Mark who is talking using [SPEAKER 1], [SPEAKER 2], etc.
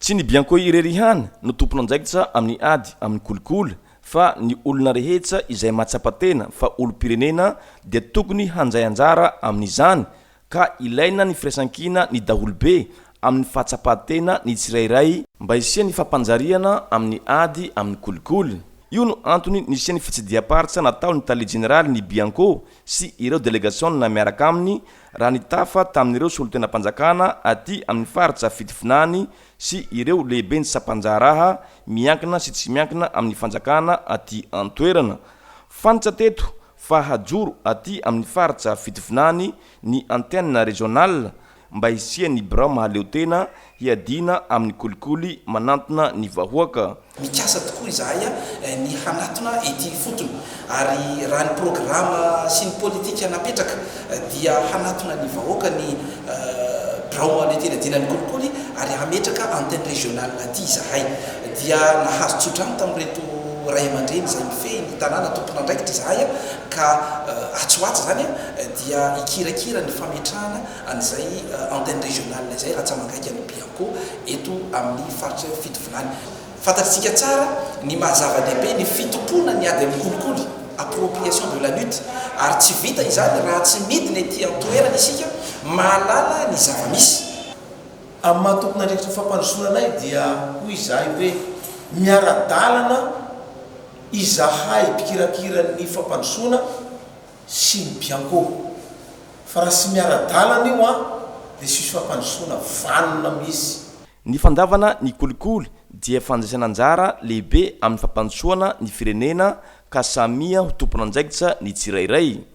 [SPEAKER 1] Tsy ny bianco irery ihany no tompon'andraikitra amin'ny ady amin'ny kolikoly fa ny olona rehetra izay mahatsapa tena fa olom-pirenena dia tokony handray anjara amin'izany ka ilaina ny firaisankina ny daholobe amin'ny fahatsapan-tena ny tsirairay mba hisian'ny fampanjariana amin'ny ady amin'ny kolikoly. Io no antony nisian'ny fitsidiham-paritra nataon'ny tale jeneralin'ny bianco sy ireo delegasionina miaraka aminy raha nitafa tamin'ireo solontenam-panjakana aty amin'ny faritra fitovinany sy ireo lehiben'ny sampan-draharaha miankina sy tsy miankina amin'ny fanjakana aty an-toerana. Fantatsa teto fa hajoro aty amin'ny faritra fitovinany ny antenne régionale mba hisian'ny birao mahaleotena Hiadiana amin'ny kolikoly manantona ny vahoaka. Mikasa tokoa
[SPEAKER 2] izahay ny hanatona ity ifotony ary raha ny programa sy ny politika napetraka dia hanatona ny vahoaka ny Birao Mahaleo Tena Diana ny kolikoly ary hametraka antenne régionale aty izahay. Dia nahazo tsodrano tamin'ireto Ray aman-dreny izay mifehy ny tanàna tompon'andraikitra izahay ka atsy ho atsy izany dia hikirakira ny fametrahana an'izay antenne régionale izay rantsamangaiky an'i Bianco eto amin'ny faritry Fitovinany. Fantatsika tsara ny maha zava-dehibe ny fitompoana ny ady amin'ny kolikoly, appropriation de la lutte, ary tsy vita izany raha tsy midina ety an-toerana isika, mahalala ny zava-misy. Amin'ny
[SPEAKER 3] maha tompon'andraikitry ny fampandrosoana anay dia hoy izahay hoe miara-dalana izahay mpikirakira ny fampandrosoana sy ny biancourt fa raha tsy miara-dalana io an dia tsy misy fampandrosoana vanona mihisy. Ny fandavana
[SPEAKER 1] ny kolikoly dia fandraisana anjara lehibe amin'ny fampandrosoana ny firenena ka samia ho tompon'andraikitra ny tsirairay.